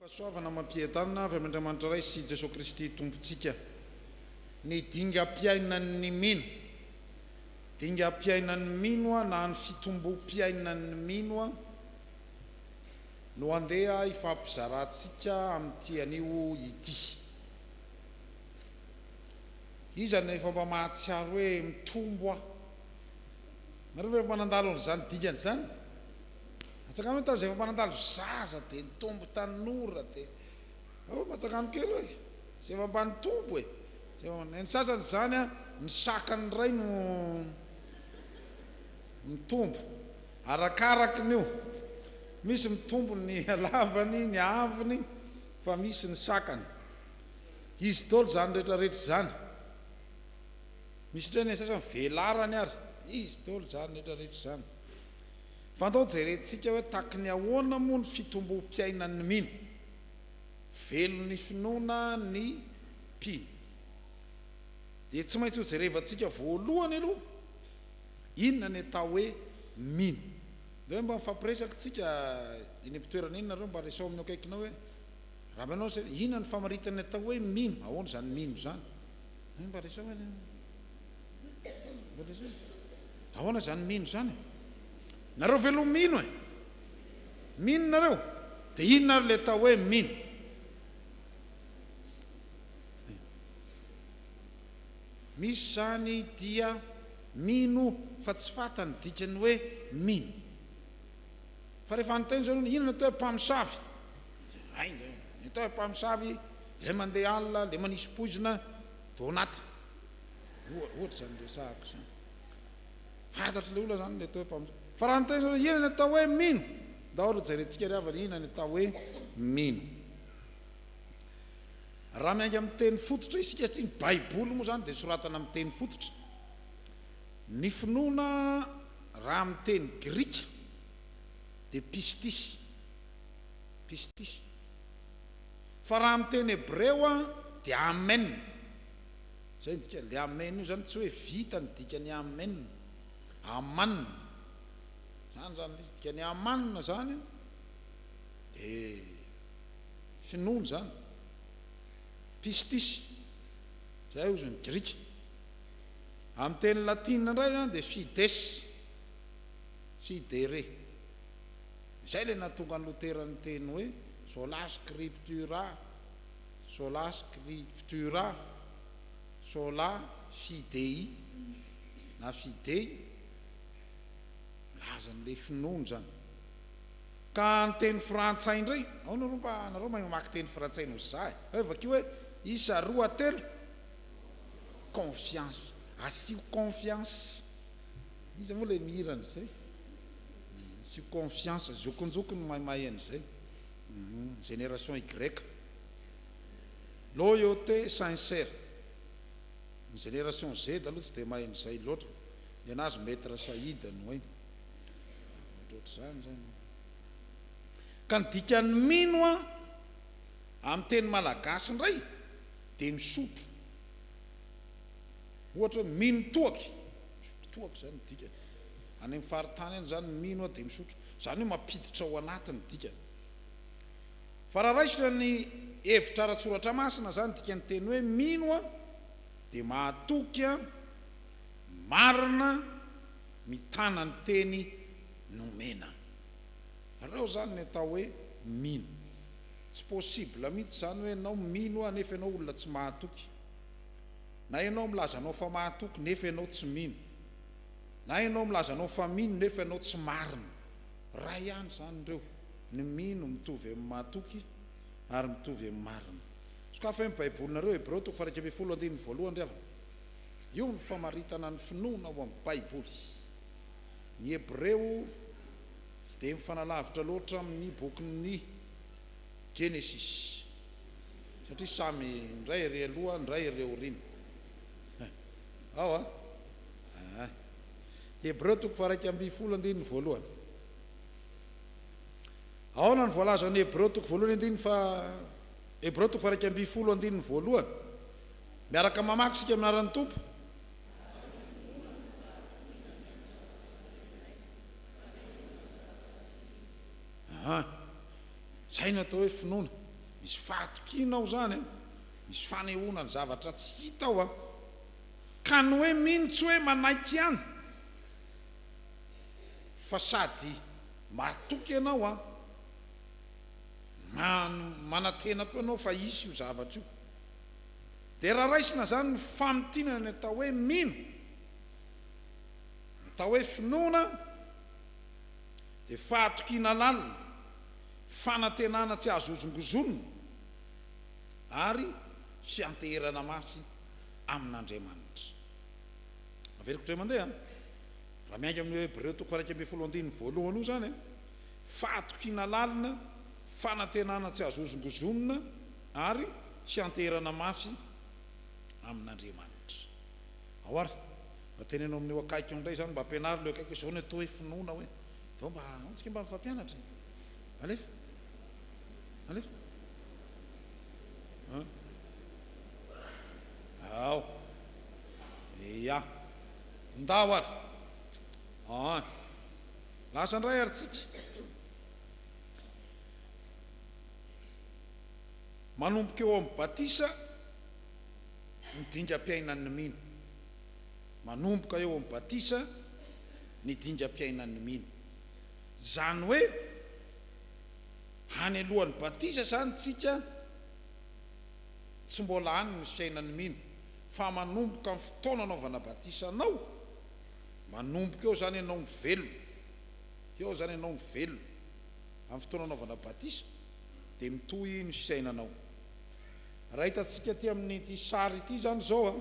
Fahasoavana amam-piadanana avy amin' Andriamanitra Ray sy Jesoa Kristy Tompontsika. Ny dingam-piainan'ny mino. Dingam-piainan'ny mino na ny fitombom-piainan'ny mino no handeha hifampizarantsika amin'ity anio ity. Iza no efa mba mahatsiaro hoe mitombo aho? Nareo ve efa mba nandalo an'izany dingana izany? Antsakano hoe tany izay efa mba nandalo zaza dia nitombo tanora dia oh mba antsakano kely hoe izay efa mba nitombo e! Izay efa mba ny sasany izany an ny sakany indray no mitombo arakaraky ny io misy mitombo ny halavany ny haavony fa misy ny sakany. Izy daholo izany rehetra rehetra izany. Misy indray ny sasany velarany ary. Izy daholo izany rehetra rehetra izany. Fa andao jerentsika hoe tahaky ny ahoana moa ny fitombom-piainan'ny mino. Velon'ny finoana ny mpino. Dia tsy maintsy hojerevantsika voalohany aloha inona ny atao hoe mino. Dia hoe mba mifampiresaka tsika eny am-pitoerana eny nareo mba resao amin'ny eo akaikinao hoe. Raha manao izay, inona no famaritana ny atao hoe mino? Ahoana izany mino izany? Hay mba resao anie an! Mba resao e! Ahoana izany mino izany e? Nareo ve aloha mino e? Mino nareo? Dia inona ary ilay atao hoe mino? Misy izany dia mino fa tsy fantany dikany hoe mino. Fa rehefa anontaniana izao, inona no atao hoe mpamosavy? Ainga e! Entan'ny mpamosavy ilay mandeha alina, ilay manisy poizina tao anaty. Ohatra izany resahako izany. Fantatr'ilay olona izany ilay atao hoe mpamosavy. Fa raha ny tena hoe inona ny atao hoe mino? Ndao aloha jerentsika ry havana inona ny atao hoe mino. Raha miainga amin'ny teny fototra isika satria ny Baiboly moa izany dia soratana amin'ny teny fototra. Ny finoana raha amin'ny teny grika dia pistis. Pistis. Fa raha amin'ny teny hebreo dia Amen. Izay no dikany. Ilay Amen io izany tsy hoe vita ny dikan'ny Amen. Aman. Izany izany ilay izy. Ny dikan'ny Aman izany dia finoana izany. Pistis. Izay hozy ny grika. Amin'ny teny latina indray dia Fides. Fidere. Izay ilay nahatonga an'i Lotera niteny hoe, Sola Scriptura, Sola Scriptura, Sola Fidei, na Fidei, milaza an'ilay finoana izany. Ka ny teny frantsay indray, ao nareo mba, nareo mahay mamaky teny frantsay noho izaho e, hoe vakio hoe, isa, roa, telo, confiance, asio confiance, iza moa ilay mihira an'izay? sy confiance zokonjoko no maimay an'izay génération y loyauté sincère ny génération Z aloha tsy dia mahay an'izay loatra nenazy maître Saïd no hainy ohatr'izany izany ka ny dikan'ny mino an amin'ny teny malagasy indray dia misotro ohatra hoe mino toaka misotro toaka izany ny dikany Any amin'ny faritany any izany mino aho dia misotro. Izany hoe mampiditra ao anaty ny dikany. Fa raha raisina ny hevitra ara-tsoratra masina izany dikan'ny teny hoe mino aho dia mahatoky aho, marina, mitana ny teny nomena. Reo izany ny atao hoe mino. Tsy possible mihitsy izany hoe ianao mino aho nefa ianao olona tsy mahatoky. Na ianao milaza anao fa mahatoky nefa ianao tsy mino. Na ianao milaza anao fa mino nefa ianao tsy marina. Ray ihany izany ireo, ny mino mitovy amin'ny mahatoky ary mitovy amin'ny marina. Sokafy hoe ny Baibolinareo, Hebreo toko faha-iraika ambin'ny folo andininy voalohany ry havana. Io ny famaritana ny finoana ao amin'ny Baiboly. Ny Hebreo tsy dia mifanalavitra loatra amin'ny bokin'ny Genesis, satria samy ny iray ery aloha, ny iray ery aoriana. Ao a! Aa. Hebreo toko faha-iraika ambin'ny folo andininy voalohany. Aona no voalazan'ny Hebreo toko voalohany andininy faha, Hebreo toko faha-iraika ambin'ny folo andininy voalohany? Miaraka mamaky isika amin'ny anaran'ny Tompo. Aa. Izay no atao hoe finoana. Misy fahatokiana ao izany an. Misy fanehoana ny zavatra tsy hita ao an. Ka ny hoe mino tsy hoe manaiky ihany fa sady mahatoky ianao an, manantena koa ianao fa hisy io zavatra io. Dia raha raisina izany ny famintinana ny atao hoe mino, ny atao hoe finoana dia fahatokiana lalina, fanantenana tsy azo hozongozonina ary fianteherana mafy. amin'Andriamanitra. Averiko indray mandeha an! Raha miainga amin'io Hebreo toko iraika ambin'ny folo andininy voalohany io izany an, fahatokiana lalina, fanantenana tsy azo hozongozonina ary fianteherana mafy amin'Andriamanitra. Ao ary, mba teneno amin'io akaiky io indray izany, mba ampianaro ilay eo akaiky hoe, izao ny atao hoe finoana hoe. Vao mba, ao tsika mba mifampianatra e! Alefa! Alefa! An! Ao. Ia. Ndao ary. An. Lasa indray ary tsika. Manomboka eo amin'ny batisa ny dingam-piainan'ny mino. Manomboka eo amin'ny batisa ny dingam-piainan'ny mino. Izany hoe any alohan'ny batisa izany tsika tsy mbola any ny fiainan'ny mino fa manomboka amin'ny fotoana anaovana batisa anao, manomboka eo izany ianao mivelona, eo izany ianao mivelona amin'ny fotoana anaovana batisa dia mitohy ny fiainanao. Raha hitantsika aty amin'ity sary ity izany izao an,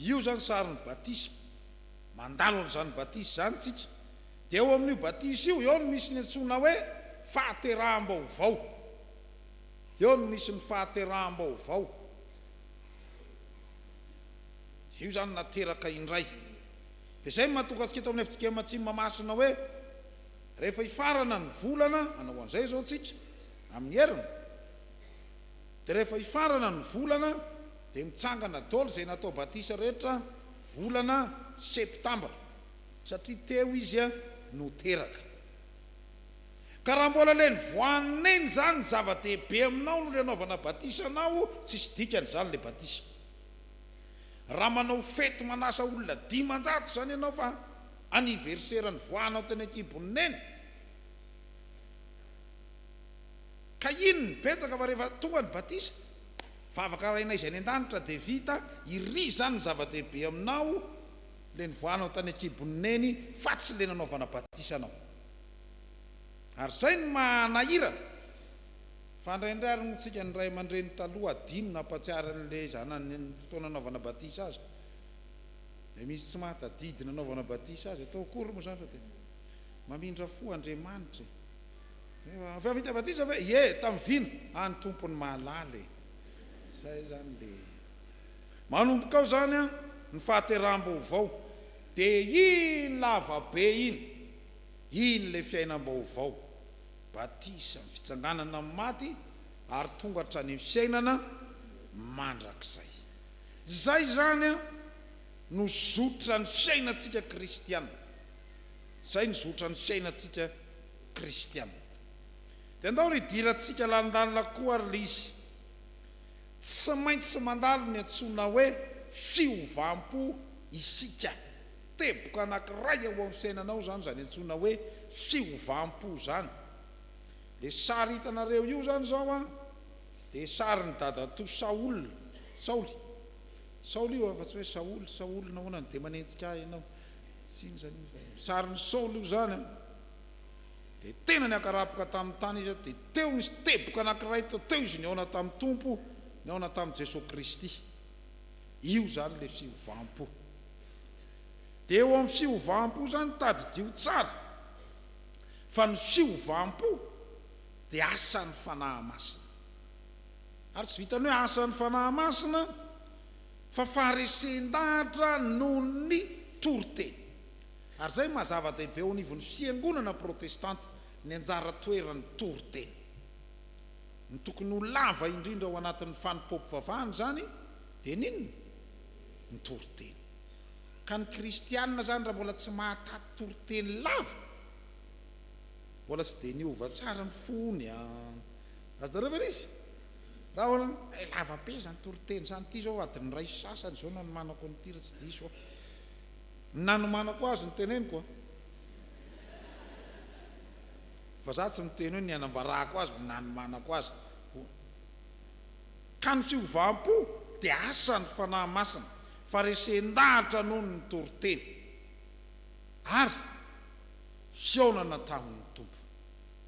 io izany sarin'ny batisa, mandalo an'izany batisa izany isika, Dia ao amin'io batisa io, eo no misy ny antsoina hoe fahateraham-baovao. Eo no misy ny fahateraham-baovao. Dia io izany nateraka indray. Dia izay no mahatonga antsika eto amin'ny FJKM Mahatsimamasina hoe rehefa hifarana ny volana, manao an'izay izao isika amin'ny heriny, dia rehefa hifarana ny volana dia mitsangana daholo izay natao batisa rehetra volana septambra. Satria teo izy no teraka. Ka raha mbola ilay nivoahan'Neny izany ny zava-dehibe aminao no nanaovana batisa anao, tsisy dikany izany ilay batisa. Raha manao fety manasa olona dimanjato izany ianao fa anniversaire nivoahanao teny an-kibon'i Neny, ka iny ny betsaka fa rehefa tonga ny batisa, vavaka rainay izay any an-danitra dia vita, iry izany ny zava-dehibe aminao, Le nivoahanao tany an-kibon'i Neny fa tsy le nanaovana batisa anao. Ary zay no maha-nahirana. Fa indraindray ary moa tsika ny ray aman-dreny taloha adino na ampatsiahy an'le zanany ny fotoana nanaovana batisa azy. Le misy tsy mahatadidy nanaovana batisa azy. Atao akory moa zany fa dia mamindra fo Andriamanitra e. Hoe avy vita batisa ve? Ie, tamin'ny vina? Any Tompo no mahalala e. Zay zany le. Manomboka ao izany ny fahateraham-baovao, dia iny lava be iny, iny ilay fiainam-baovao, batisa, ny fitsanganana amin'ny maty ary tonga hatrany amin'ny fiainana mandrakizay. Izay izany no zotran'ny fiainantsika kristiana. Izay no zotran'ny fiainantsika kristiana. Dia andao ry hidirantsika lalindalina koa ry Lisy. Tsy maintsy mandalo ny antsoina hoe fiovam-po isika. Teboka anankiray ao amin'ny fiainanao izany izany antsoina hoe fiovam-po izany. Ilay sary hitanareo io izany izao an, dia sarin'i dadatoa Saol, Saoly, Saoly io an, fa tsy hoe Saoly, Saoly nahoana no dia manenjika ahy ianao? Tsy iny izany io fa. Sarin'i Saoly io izany an. dia tena niakarapoka tamin'ny tany izy, dia teo nisy teboka anankiray teo, teo izy nihaona tamin'ny Tompo, nihaona tamin'i Jesoa Kristy. Io izany ilay fiovam-po. Dia eo amin'ny fiovam-po izany, tadidio tsara fa ny fiovam-po dia asan'ny Fanahy Masina. Ary tsy vitan'ny hoe asan'ny Fanahy Masina fa faharesen-dahatra noho ny toriteny. Ary izay no maha-zava-dehibe eo anivon'ny fiangonana protestanta, ny anjara toeran'ny toriteny. Ny tokony ho lava indrindra ao anatin'ny fanompoam-pivavahana izany dia ny inona? Ny toriteny. Ka ny kristiana izany raha mbola tsy mahataty toriteny lava, mbola tsy dia niova tsara ny fony an! Azonareo ve izy? Raha ahoana no, hay lava be izany toriteny izany, ity izao adin'ny iray sy sasany izao no hanomanako an'ity raha tsy diso aho. Ny nanomanako azy no teneniko a! Fa za tsy miteny hoe ny anambarako azy no nanomanako azy ho. Ka ny fiovam-po dia asan'ny Fanahy Masina, fa resen-dahatra noho ny toriteny, ary fihaonana tamin'ny Tompo.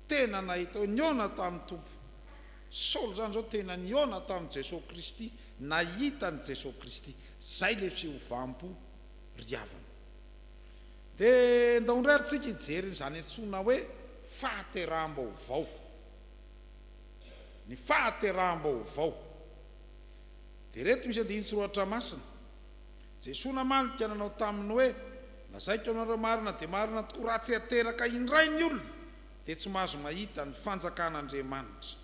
Tena nahita hoe nihaona tamin'ny Tompo. Saoly izany izao tena nihaona tamin'i Jesoa Kristy, nahita an'i Jesoa Kristy. Izay ilay fiovam-po. ry havana. Dia ndao indray ary tsika hijery izany antsoina hoe fahateraham-baovao. Ny fahateraham-baovao. Dia ireto misy andinin-tsoratra masina. Jesoa namaly ny mpiananao taminy hoe, Lazaiko aminareo marina dia marina tokoa, raha tsy ateraka indray ny olona, dia tsy mahazo mahita ny fanjakan'Andriamanitra.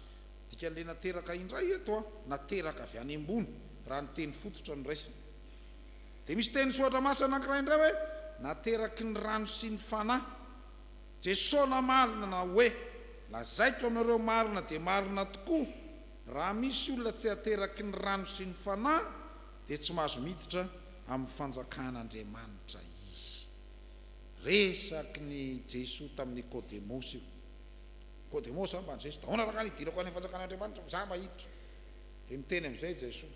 Dikan'ilay nateraka indray eto, nateraka avy any ambony, raha ny teny fototra no raisina. Dia misy teny soratra masina anankiray indray hoe nateraky ny rano sy ny Fanahy. Jesoa namaly nanao hoe, lazaiko aminareo marina dia marina tokoa, raha misy olona tsy ateraky ny rano sy ny Fanahy dia tsy mahazo miditra amin'ny fanjakan'Andriamanitra izy. Resaky ny Jesoa tamin'i Nikodemosy io. Nikodemosy, ambany Jesoa, ahoana raha ka nidirako any amin'ny fanjakan'Andriamanitra fa za mba hiditra? Dia miteny amin'izay Jesoa.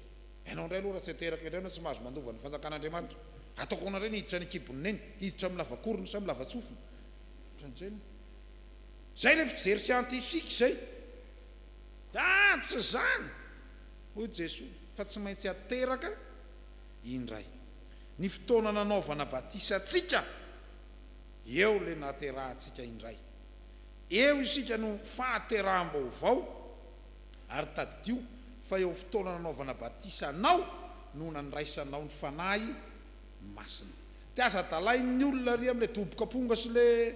Ianao indray aloha raha tsy ateraka indray ianao tsy mahazo mandova ny fanjakan'Andriamanitra. Ataoko ahoana indray ny hiditra any an-kibon'i Neny? Hiditra amin'ny lavakorony sa amin'ny lavatsofina? Ohatran'izay ny. Izay ilay fijery scientifique izay. Aa! Tsy izany! Hoy Jesoa, fa tsy maintsy ateraka indray. Ny fotoana nanaovana batisa antsika, eo ilay nahaterahantsika indray. Eo isika no fahateraham-baovao. Ary tadidio fa eo fotoana nanaovana batisa anao no nandraisanao ny Fanahy Masina. Dia aza dalain'ny olona ery amin'ilay doboka amponga sy ilay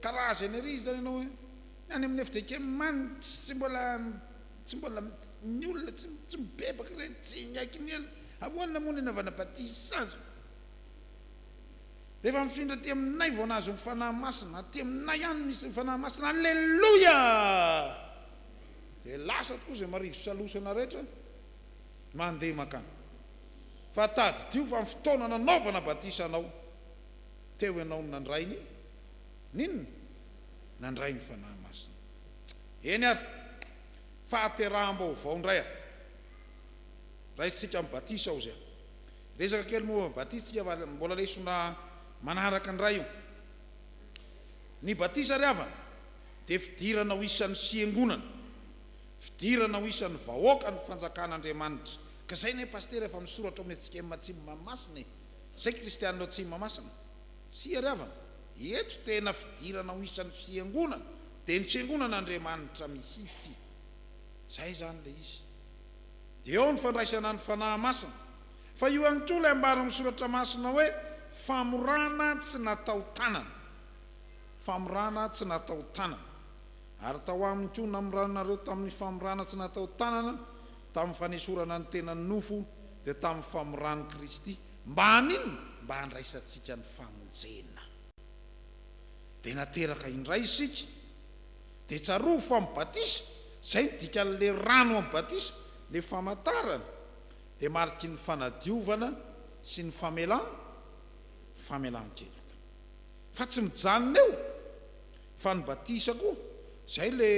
karazany ery izany ianao e! Ny any amin'ny FJKM any tsy mbola tsy mbola ny olona tsy tsy mibebaka ireny, tsy miaiky ny ela. Ahoana moa ny anaovana batisa azy? Rehefa mifindra aty aminay vao nahazo ny Fanahy Masina, aty aminay ihany no misy ny Fanahy Masina. Aleloia! dia lasa tokoa izay marivo salosana rehetra mandeha mankany. Fa tadidio fa ny fotoana nanaovana batisa anao, teo ianao no nandray ny, n'inona? Nandray ny Fanahy Masina. Eny ary, fahateraham-baovao indray ary. Raisintsika amin'ny batisa ao izay. Resaka kely momba ny batisa tsika fa mbola lesona manaraka indray io. Ny batisa ry havana. dia fidirana ho isan'ny fiangonana, fidirana ho isan'ny vahoakan'ny fanjakan'Andriamanitra, ka zay anie Pasitera efa misoratra ao amin'ny HCM Atsimo Mahamasina e! Zay Kristianina ao Atsimo Mahamasina. Tsy iariavana, eto tena fidirana ho isan'ny fiangonana dia ny fiangonan'Andriamanitra mihitsy. Zay zany ilay izy. Dia ao ny fandraisana ny Fanahy Masina. Fa io ihany koa ilay ambaran'ny Soratra Masina hoe famorana tsy natao tanana. famorana tsy natao tanana, ary tao aminy koa namoranareo tamin'ny famorana tsy natao tanana, tamin'ny fanesorana ny tenan'ny nofo, dia tamin'ny famoran'i Kristy, mba haninona? mba handraisantsika ny famonjena. Dia nateraka indray isika. Dia tsarovy fa amin'ny batisa, izay no dikan'ilay rano amin'ny batisa, ilay famantarana, dia mariky ny fanadiovana sy ny famelan-keloka. Fa tsy mijanona eo fa ny batisa koa zay le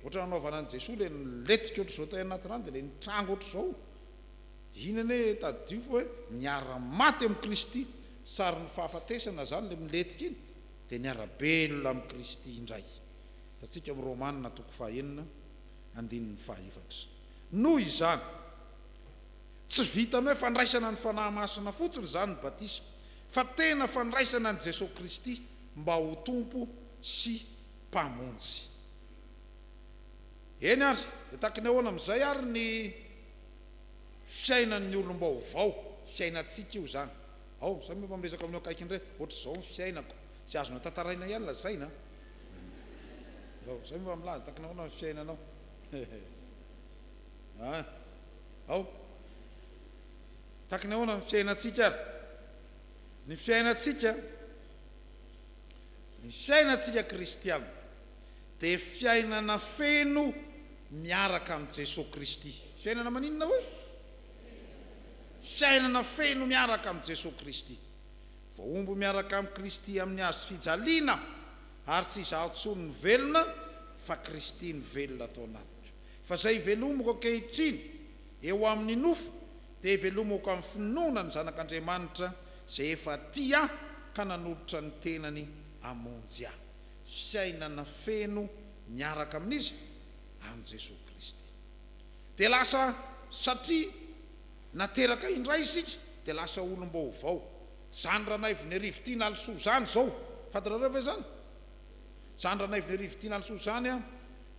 ohatran'ny nanaovana an'i Jesoa le niletika ohatr'izao tao anaty rano de le nitranga ohatr'izao iny anie tadidio fa hoe niara maty amin'i Kristy sarin'ny fahafatesana zany le miletika iny de niara belona amin'i Kristy indray hitantsika amin'i Romana toko faha enina andininy faha efatra noho izany Tsy vitan'ny hoe fandraisana ny Fanahy Masina fotsiny izany ny batisa, fa tena fandraisana an'i Jesoa Kristy mba ho Tompo sy Mpamonjy. Eny ary, dia takin'ny ahoana amin'izay ary ny fiainan'ny olom-baovao? Fiainantsika io izany. Ao, samy mba miresaka amin'io akaiky indray hoe, Hoatr'izao ny fiainako. Tsy azonao tantaraina ihany lazaina an! Ao, samy mba milaza, takin'ny ahoana ny fiainanao? An! ao. Tahaka ny ahoana ny fiainantsika ary? Ny fiainantsika, ny fiainantsika kristiana dia fiainana feno miaraka amin'i Jesoa Kristy. Fiainana maninona hoy? Fiainana feno miaraka amin'i Jesoa Kristy. Voahombo miaraka amin'i Kristy amin'ny hazo fijaliana, ary tsy izaho intsony no velona fa Kristy no velona ato anatiko. Fa izay velomiko ankehitriny eo amin'ny nofo, dia velomiko amin'ny finoana ny Zanak'Andriamanitra izay efa tia ahy ka nanolotra ny tenany hamonjy ahy. Fiainana feno miaraka amin'iza? Amin'i Jesoa Kristy. Dia lasa satria nateraka indray isika, dia lasa olom-baovao. Izany Ranaivin'Iarivo Tian'Alisoa izany izao, fantatrareo ve izany? Izany Ranaivin'Iarivo Tian'Alisoa izany,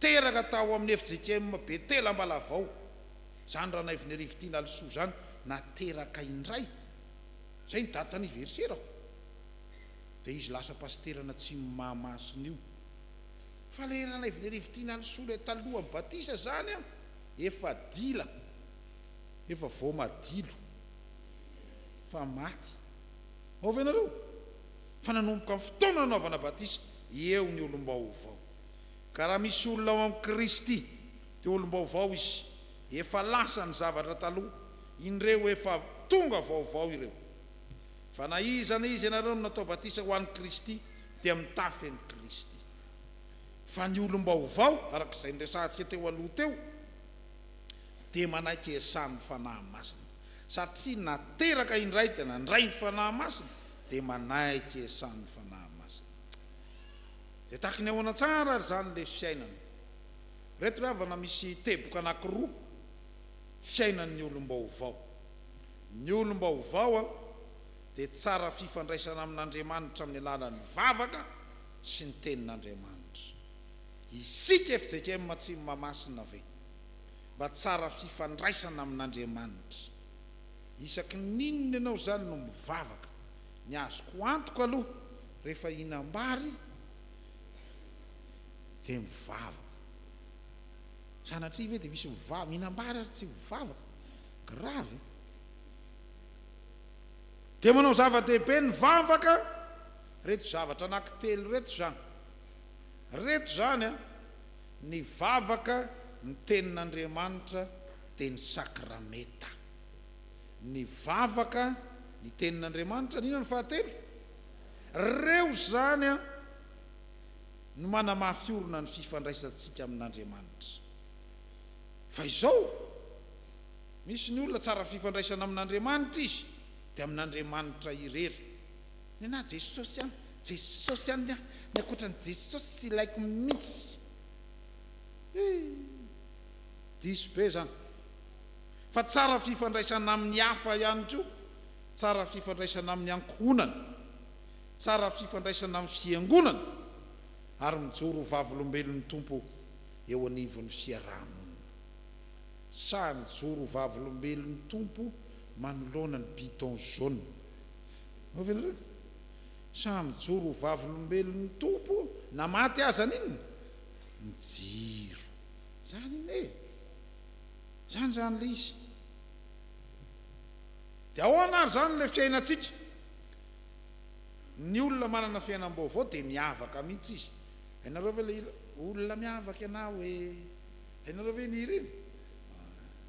teraka tao amin'ny fjkm Betela Ambalavao, izany Ranaivonerivitiana Alisoa izany na teraka indray, izay ny date anniversaire-ko, dia izy lasa pasiteran'ny Atsimo Mahamasina io. Fa ilay Ranaivonerivitiana Alisoa ilay talohan'ny batisa izany an, efa dila, efa voamadilo, efa maty. Ao ve ianareo? Fa nanomboka ny fotoana nanaovana batisa, eo ny olom-baovao. Ka raha misy olona ao amin'i Kristy, dia olom-baovao izy, efa lasa ny zavatra taloha, indreo efa tonga vaovao ireo. Fa na iza na iza ianareo no natao batisa ho an'i Kristy, dia mitafy an'i Kristy. Fa ny olom-baovao, araka izay niresahantsika teo aloha teo, dia manaiky iasan'ny Fanahy Masina. Satria nateraka indray dia nandray ny Fanahy Masina, dia manaiky iasan'ny Fanahy Masina. Dia tahaka ny ahoana tsara ary izany ilay fiainana? Ireto ry havana misy teboka anankiroa fiainan'ny olom-baovao. Ny olom-baovao dia tsara fifandraisana amin'Andriamanitra amin'ny alalan'ny vavaka sy ny Tenin'Andriamanitra. Isika fjkm Atsimo Mahamasina ve mba tsara fifandraisana amin'Andriamanitra? Isaky ny inona ianao izany no mivavaka? Ny azoko antoka aloha rehefa hihinam-bary dia mivavaka. Sanatria ve dia misy mivavaka, mihinam-bary ary tsy mivavaka? Grave e! Dia manao zava-dehibe ny vavaka, reto zavatra anankitelo reto izany. Reto izany an, ny vavaka, ny tenin'Andriamanitra dia ny sakramenta. Nivavaka ny Tenin'Andriamanitra, nino ny fahatelo. Ireo izany no manamafy orina ny fifandraisantsika amin'Andriamanitra. Fa izao, misy ny olona tsara fifandraisana amin'Andriamanitra izy, dia amin'Andriamanitra irery. Nenà Jesosy an, Jesosy an, ny ankoatran'i Jesosy tsy ilaiko mihitsy. Hii, diso be izany. Fa tsara fifandraisana amin'ny hafa ihany koa, tsara fifandraisana amin'ny ankohonana, tsara fifandraisana amin'ny fiangonana ary mijoro ho vavolombelon'ny Tompo eo anivon'ny fiaraha-monina. Sahy mijoro ho vavolombelon'ny Tompo manoloana ny bidon jaune. Mahafinaritra e! Sahy mijoro ho vavolombelon'ny Tompo na maty aza ny inona? Ny jiro. Izany anie e! Izany izany ilay izy. Dia ahoana ary izany ilay fiainantsika? Ny olona manana fiainam-baovao dia miavaka mihitsy izy. Hainareo ve ilay hira, Olona miavaka ianao e? Hainareo ve iny hira iny?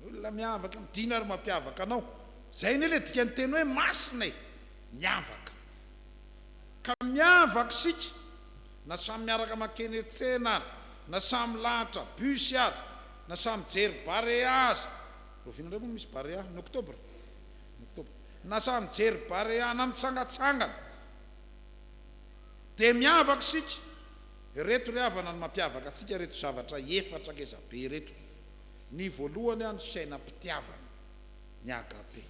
Olona miavaka ianao, dino ary mampiavaka anao. Izay anie ilay dikan'ny teny hoe masina e! Miavaka. Ka miavaka isika. Na samy miaraka makene tsena ary na samy milahatra bus ary na samy mijery barea aza, rahoviana indray moa no misy barea ny octobre? ny octobre, na samy mijery barea na mitsangatsangana dia miavaka isika, ireto ry havana no mampiavaka antsika ireto zavatra efatra ngeza be ireto, ny voalohany ny fiainam-pitiavana, ny agape,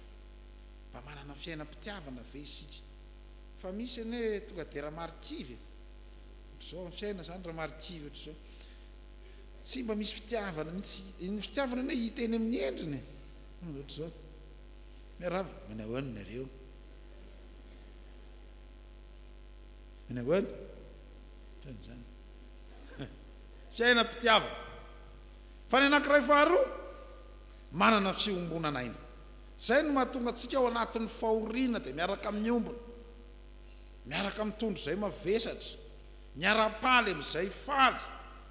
mba manana fiainam-pitiavana ve isika? Fa misy anie tonga dia ramarikivy e! Ohatr'izao amin'ny fiainana izany ramarikivy ohatr'izao. Tsy mba misy fitiavana mihitsy. Ny fitiavana anie hita eny amin'ny endriny e! Ohatr'izao. Miarahaba, manao ahoana nareo? Manao ahoana? Ohatran'izany. Fiainam-pitiavana. Fa ny anankiray faharoa, manana fiombonana aina. Izay no mahatonga antsika ao anatin'ny fahoriana dia miaraka miombona, miaraka mitondra izay mavesatra, miara-paly amin'izay faly,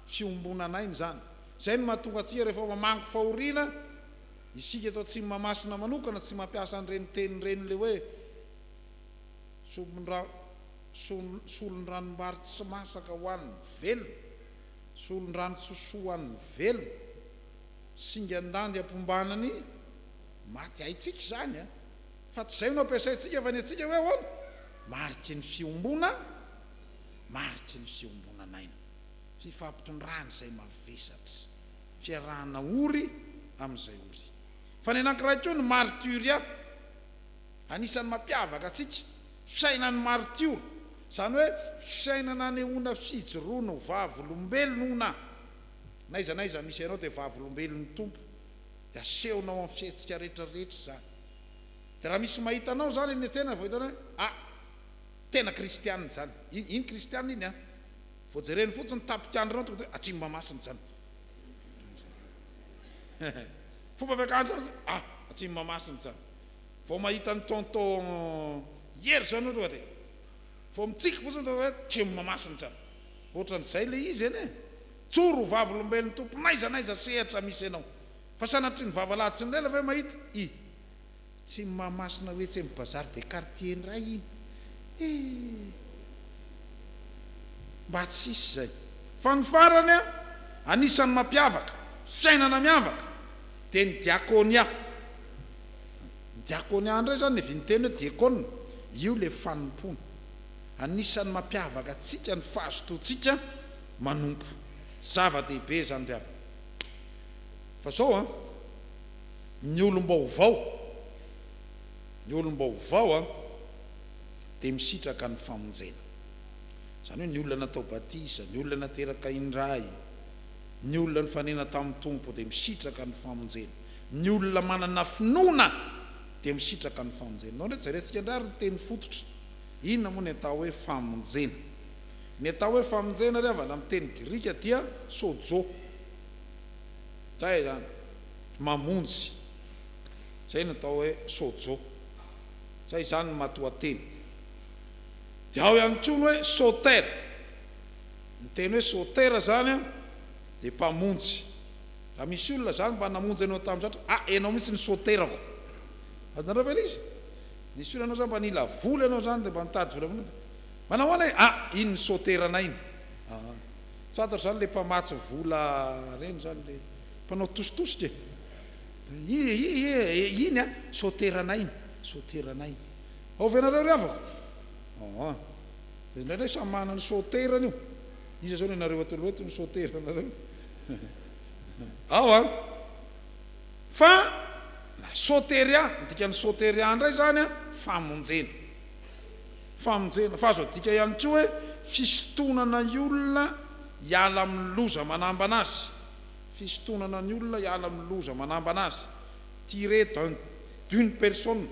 fiombonan'aina izany. Izay no mahatonga antsika rehefa mamangy fahoriana, isika eto Atsimomahamasina manokana tsy mampiasa an'ireny teny ireny ilay hoe sombin-dra solon-dranom-bary tsy masaka ho an'ny velona, solon-drano tsosoa ho an'ny velona. Singan-dandy ampiombanan'ny maty haintsika izany an! Fa tsy izay no ampiasaintsika fa ny antsika hoe ahoana? Mariky ny fiombona, mariky ny fiombonan'aina, fifampitondrana izay mavesatra, fiarahana ory amin'izay ory. Fa ny anankiray koa ny martyria, anisan'ny mampiavaka antsika, fiainan'ny martiora, izany hoe fiainana anehoana fijoroana ho vavolombelona. N'aiza n'aiza misy anao dia vavolombelon'ny Tompo, dia asehonao amin'ny fihetsika rehetra rehetra izany. Dia raha misy mahita anao izany eny an-tsena vao hitany hoe ah, tena kristianina izany. Iny iny kristianina iny an. Vao jereny fotsiny ny tapikandrinao tonga dia atsimo mahamasina izany. Fomba fiakanjo an, ah, atsimo mahamasina izany. Vao mahita an'i tonton Hery izao ianao tonga dia vao mitsiky fotsiny tonga dia hoe atsimo mahamasina izany. Ohatran'izay le izy anie e! Tsory ho vavolombelon'ny Tompo n'aiza n'aiza sehatra misy anao. Fa sanatria ny vava lahy tsy nilela ve mahita? I. Tsy ny Mahamasina ho etsy amin'ny Bazar des Quartiers indray iny e! Mba tsy hisy izay. Fa ny farany an! Anisan'ny mampiavaka, fiainana miavaka, dia ny diakônia. Ny diakônia indray izany, ny viteny hoe diakôna, io le fanompoana. Anisan'ny mampiavaka antsika ny fahazotoantsika manompo. Zava-dehibe izany ry havana. Fa izao an, ny olom-baovao, ny olom-baovao an, dia misitraka ny famonjena. Izany hoe ny olona natao batisa, ny olona nateraka indray, ny olona nifanena tamin'ny Tompo dia misitraka ny famonjena. Ny olona manana finoana dia misitraka ny famonjena. Ianareo reto, jerentsika indray ary ny teny fototra. Inona moa ny atao hoe famonjena? Ny atao hoe famonjena ry havana amin'ny teny grika dia sojo. Izay izany, mamonjy. Izay no atao hoe sojo. Izay izany ny matoanteny. Dia ao ihany koa ny hoe soter. Ny teny hoe soter izany dia mpamonjy. Raha misy olona izany mba namonjy anao tamin'ny zatra, ah enao mihitsy ny soterako. Azonareo ve ilay izy? Ny sola anao zany mba nila vola ianao zany de mba nitady vola manoa de manao ahoana e ah iny ny soteranay iny ah fantatro zany le mpamatsy vola reny zany le mpanao tositosika e i i i iny ah soteranay iny soteranay iny ao ve nareo ry havako ah ah de indraindray samy manana ny soterany io iza zao nenareo atoloha eto ny soteranareo ao an. Fa na soteria, ny dikan'ny soteria indray izany an, famonjena. Famonjena. Fa azo adika ihany koa hoe fisintonana ny olona hiala amin'ny loza manambana azy. Fisintonana ny olona hiala amin'ny loza manambana azy. Tirer d'un, d'une personne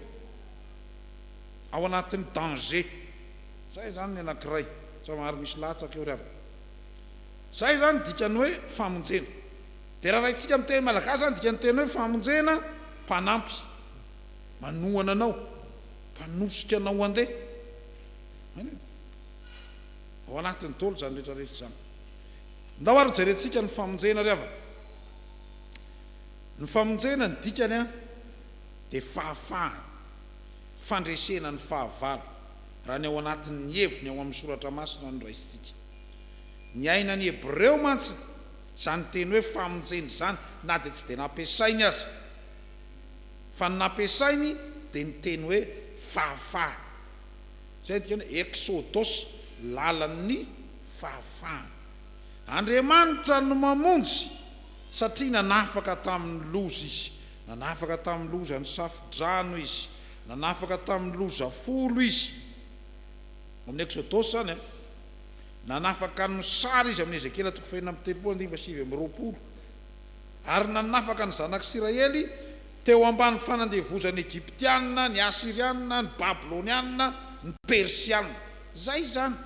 ao anatin'ny danger. Izay izany ny anankiray. Somary misy latsaka eo ry havana. Izay izany ny dikan'ny hoe famonjena. Dia raha raintsika amin'ny teny malagasy izany dikany teny hoe famonjena, mpanampy, manohana anao, mpanosika anao handeha. Ao anatin'ny dolo izany rehetra rehetra izany. Ndao ary jerentsika ny famonjena ry havana. Ny famonjena ny dikany an dia fahafahana, fandresena ny fahavalo raha ny ao anatin'ny heviny ao amin'ny soratra masina noraisintsika. Ny aina ny Hebreo mantsy Izany teny hoe famonjena izany na dia tsy dia nampiasainy aza. Fa ny nampiasainy dia ny teny hoe fahafahana. Izay dikany hoe Exodos, lalan'ny fahafahana. Andriamanitra no mamonjy satria nanafaka tamin'ny loza Izy. Nanafaka tamin'ny loza ny Safo-drano Izy. Nanafaka tamin'ny loza folo Izy. Ao amin'ny Exodos izany an. Nanafaka ny sary izy amin'i Ezekiela toko fahefatra amby telopolo andiva sivy amby roapolo, ary nanafaka ny zanak'Isiraely teo ambany fanandevozan'ny Egyptianina, ny Asirianina, ny Babylonianina, ny Persianina. Izay izany,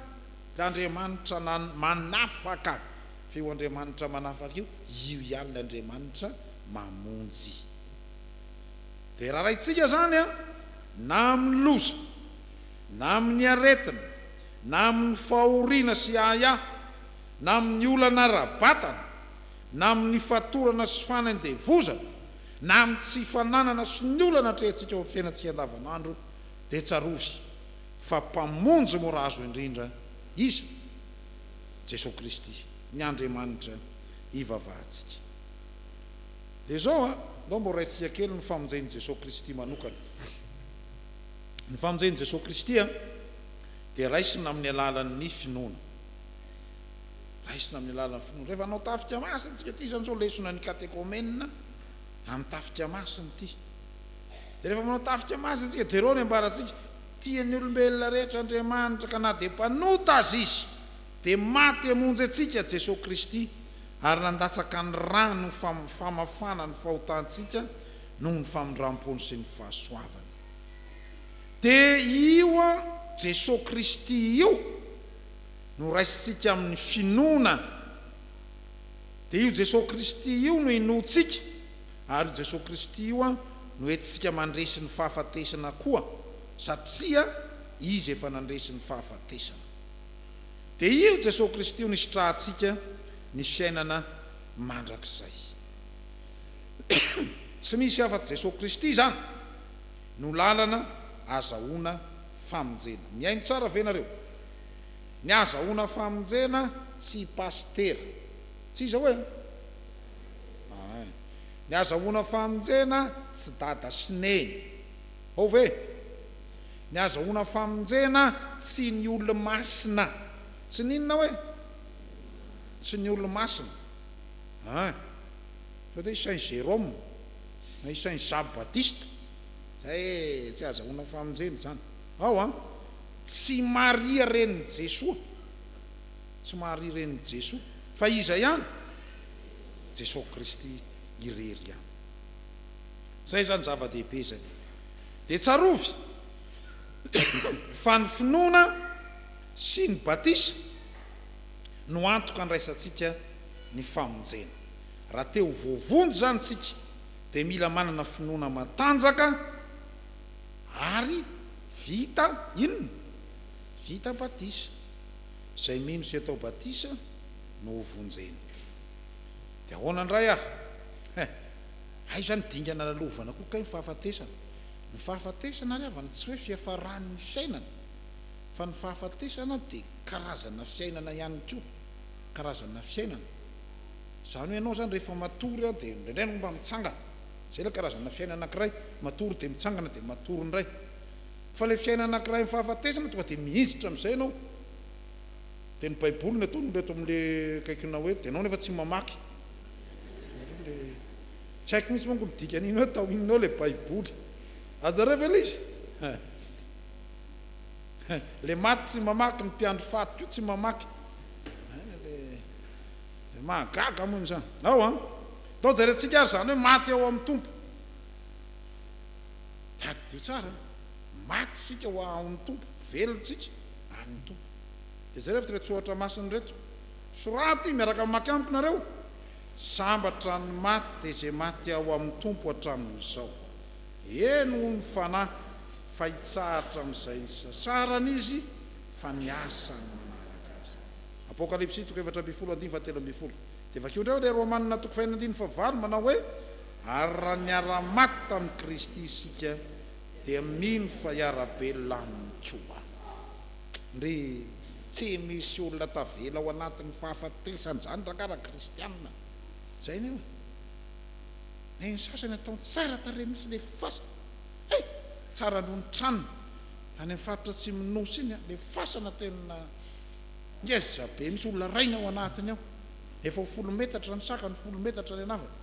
ilay Andriamanitra manafaka, fa io Andriamanitra manafaka io, io ihany ilay Andriamanitra mamonjy. Dia rarahintsika izany an, na amin'ny loza, na amin'ny aretina, na amin'ny fahoriana sy ahiahy, na amin'ny olana ara-batana, na amin'ny fatorana sy fanendevozana, na amin'ny tsy fananana sy ny olana atrehintsika eo amin'ny fiainantsika andavanandro, dia tsarovy fa Mpamonjy mora azo indrindra Izy, Jesoa Kristy, ny Andriamanitra ivavahantsika. Dia izao an, ndao mba horaintsika kely ny famonjen'i Jesoa Kristy manokana. Ny famonjen'i Jesoa Kristy an, dia raisina amin'ny alalan'ny finoana. Raisina amin'ny alalan'ny finoana. Rehefa hanao tafika masina isika, ity izany izao lesona ny katekomenina amin'ny tafika masina ity. Dia rehefa manao tafika masina isika, dia ireo ny ambarantsika, tian'ny olombelona rehetra Andriamanitra ka na dia mpanota aza izy, dia maty hamonjy antsika Jesoa Kristy ary nandatsaka ny rany ho famafana ny fahotantsika noho ny famindram-pony sy ny fahasoavany. Dia io an Jesoa Kristy io no raisintsika amin'ny finoana, dia io Jesoa Kristy io no inoantsika, ary io Jesoa Kristy io an no entintsika mandresy ny fahafatesana koa, satria Izy efa nandresy ny fahafatesana. Dia io Jesoa Kristy io no isitrahantsika ny fiainana mandrakizay. Tsy misy afa-tsy Jesoa Kristy izany no lalana azahoana famonjena. Mihaino tsara ve nareo? Ny azahoana famonjena tsy pasitera. Tsy iza oe? Ain. Ny azahoana famonjena tsy dada sy neny. Hao ve? Ny azahoana famonjena tsy ny olomasina. Tsy ny inona oe? Tsy ny olomasina. An! Sao dia i Saint Jérôme na i Saint Jean Baptiste? Ee, tsy azahoana famonjena izany. Ao an! Tsy Maria renin'i Jesoa. Tsy Maria renin'i Jesoa. Fa iza ihany? Jesoa Kristy irery ihany. Izay izany zava-dehibe izay. Dia tsarovy fa ny finoana sy ny batisa no antoka andraisantsika ny famonjena. Raha te ho voavonjy izany isika dia mila manana finoana matanjaka ary vita inona? Vita batisa. Izay mino sy atao batisa no ho vonjena. Dia ahoana indray ary? He, aiza ny dingana lalovana koa kay ny fahafatesana? Ny fahafatesana ary havana tsy hoe fiafaran'ny fiainana fa ny fahafatesana dia karazana fiainana ihany koa. karazana fiainana, izany hoe ianao izany rehefa matory an dia indraindray ianao mba mitsangana, izay ilay karazana fiainana anankiray, matory dia mitsangana dia matory indray, fa ilay fiainana anankiray amin'ny fahafatesana tonga dia mihinjitra amin'izay ianao, dia ny baiboly no ataon'olona eto amin'ilay kaikona hoe dia ianao nefa tsy mamaky, tsy haiko mihintsy manko ny dikan'iny hoe atao inona eo ilay baiboly, azonareo ve ilay izy? Le maty tsy mamaky ny mpiandry faty koa tsy mamaky de mahagaga mon zany ao an atao jerentsika ary zany hoe maty ao amin'ny tompo tadidio tsara maty sika ho amin'ny tompo velontsika amin'ny tompo de zay rehefa tsohatra masiny reto soraty miaraka mamaky amiko nareo sambatra ny maty de zay maty ao amin'ny tompo hatramin'izao Eny hoy ny fanahy, fa hitsahatra amin'izay nisasarany izy, fa ny asany manaraka azy. Apokalypsy toko efatra ambin'ny folo andininy fahatelo ambin'ny folo. Dia vakio indray ao ilay Romana toko faheno andininy fahavalo manao hoe, Ary raha niara-maty tamin'i Kristy isika, dia mino fa hiara-belona aminy koa. Ndry, tsy misy olona tavela ao anatin'ny fahafatesan-dRandragara kristiana. Izay anie e. Hay ny sasany atao tsara tarehy mihitsy le fasana eh! Tsara aloha ny tranony any amin'ny faritra atsimon'ny Nosy iny an! Le fasana tena ngeza be mihitsy, olona rainy ao anatiny ao, efa ho folo metatra ny sakany, folo metatra ny an'avany.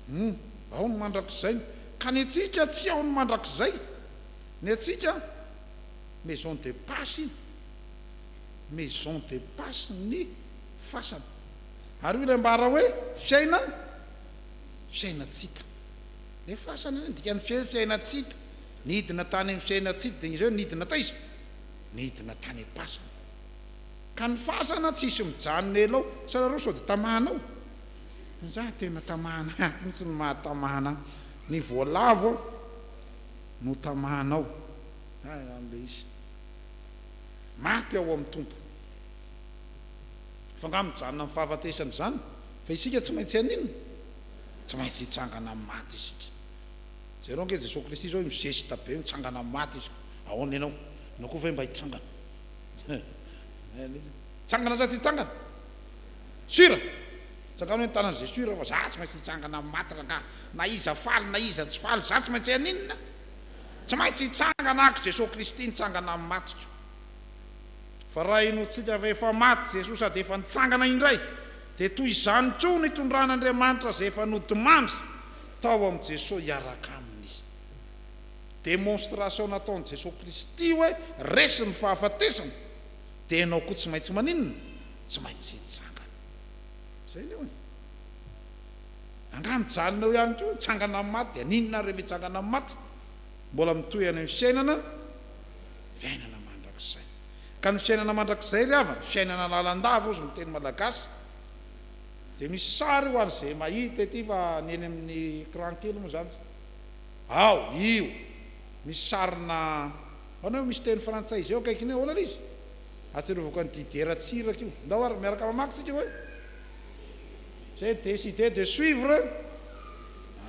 Humm! Ao ny mandrakizay ny. Ka ny antsika tsy ao ny mandrakizay! Ny antsika maison de passe iny, maison de passe ny fasana. Ary hoy ilay ambara hoe, Fiaina, fiaina tsy hita. Ilay fasana anie ny dikan'ny fia hoe fiaina tsy hita. Nidina tany amin'ny fiaina tsy hita, dia ireo nidina taiza? Nidina tany am-pasana. Ka ny fasana tsy hisy mijanona ela ao. Sao ianareo sao dia tamana ao? Izaho tena tamana ato mihitsy no mahatamana ahy. Ny voalavo aho no tamana ao. Hay an ilay izy. Maty ao amin'ny Tompo. Fa nga mijanona am fahafatesana izany fa isika tsy maintsy haninona? Tsy maintsy hitsangana am maty isika. Jereo ange Jesoa Kristy izao hoe mizesta be mitsangana am maty izy aona enao? Enao koa ve mba hitsangana? Hitsangana sa tsy hitsangana? Sur? Tsangano hoe ny tanany ze sur fa za tsy maintsy hitsangana am maty rangaha na iza faly na iza tsy faly za tsy maintsy haninona? Tsy maintsy hitsangana ako Jesoa Kristy nitsangana am matiko. Fa raha henointsika fa efa maty Jesoa sady efa nitsangana indray, dia toy izany koa ny itondran'Andriamanitra izay efa nodimandry tao amin'i Jesoa hiaraka Aminy. Démonstration nataon'i Jesoa Kristy hoe resy ny fahafatesana, dia ianao koa tsy maintsy maninona? Tsy maintsy hitsangana. Izay leo e. Angaha mijanona eo ihany koa, hitsangana amin'ny maty, dia haninona ary rehefa hitsangana amin'ny maty? Mbola mitohy any amin'ny fiainana. fiainana mandrakizay. Ka ny fiainana mandrakizay ry havana, fiainana lalandava ozy ny teny malagasy. Dia misy sary ho an'izay mahita ety fa ny eny amin'ny ecran kely moa izany. Ao, io, misy sarina, ahoana io, misy teny frantsay izay eo akaikiny eo, ahoana ilay izy? Ahatsiarovako an'i Didier Ratsiraka io. Ndao ary miaraka mamaky isika hoe, J'ai décidé de suivre,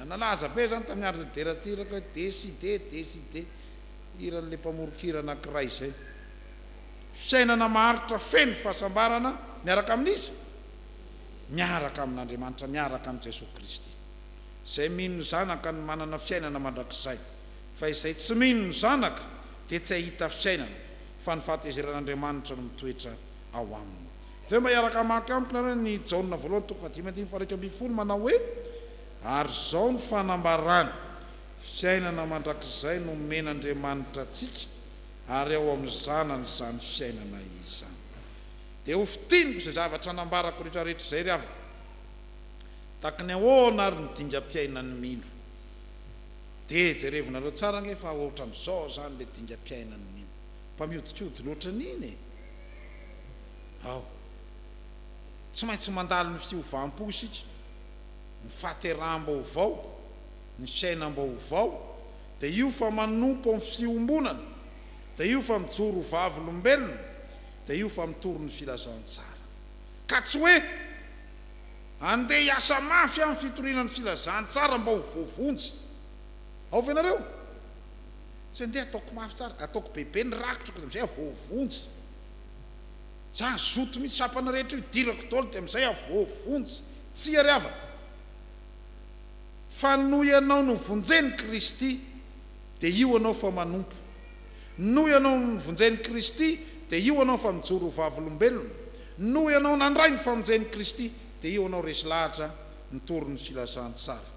nalaza be izany tamin'ny andron'i Didier Ratsiraka hoe décidé, décidé. hiran'ilay mpamoron-kira anankiray izay. Fiainana maharitra feno fahasambarana miaraka amin'iza? Miaraka amin'Andriamanitra, miaraka amin'i Jesoa Kristy. Izay mino ny Zanaka no manana fiainana mandrakizay, fa izay tsy mino ny Zanaka dia tsy hahita fiainana, fa ny fahatezeran'Andriamanitra no mitoetra ao aminy. Dia mba hiaraka hamaky amiko nareo ny Jaona voalohany toko fahadimy andininy faharaika ambin'ny folo manao hoe, Ary izao no fanambarana, Fiainana mandrakizay no omen'Andriamanitra antsika ary ao amin'ny Zanany izany fiainana izany. Dia ho fintiniko izay zavatra nambarako rehetrarehetra izay ry havana. Tahaka ny ahoana ary ny dingam-piainan'ny mino? Dia jerevonareo tsara ange fa ohatran'izao izany ilay dingam-piainan'ny mino. Mba mihodinkodina ohatran'iny e! Ao. Tsy maintsy mandalo ny fiovam-po isika, ny fahateraham-baovao. ny fiainam-baovao, dia io fa manompo amin'ny fiombonana, dia io fa mijoro ho vavolombelona, dia io fa mitory ny filazantsara. Ka tsy hoe, Andeha hiasa mafy amin'ny fitoriana ny filazantsara mba ho voavonjy. Ao ve ianareo? Tsy andeha ataoko mafy tsara, ataoko bebe ny rakitra dia amin'izay aho voavonjy. Izany zoto mitsapana rehetra io idirako daholo dia amin'izay aho voavonjy. Tsia ry havana. Fa noho ianao novonjen'i Kristy, dia io anao fa manompo. Noho ianao novonjen'i Kristy, dia io anao fa mijoro ho vavolombelona. Noho ianao nandray ny famonjen'i Kristy, dia io anao resy lahatra ny torin'ny filazantsara.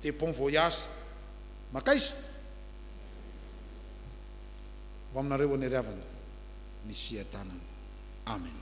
Dia bon voyage. Mankaiza? Ho aminareo ho an'Hery Havana ny fiadanana. Amen.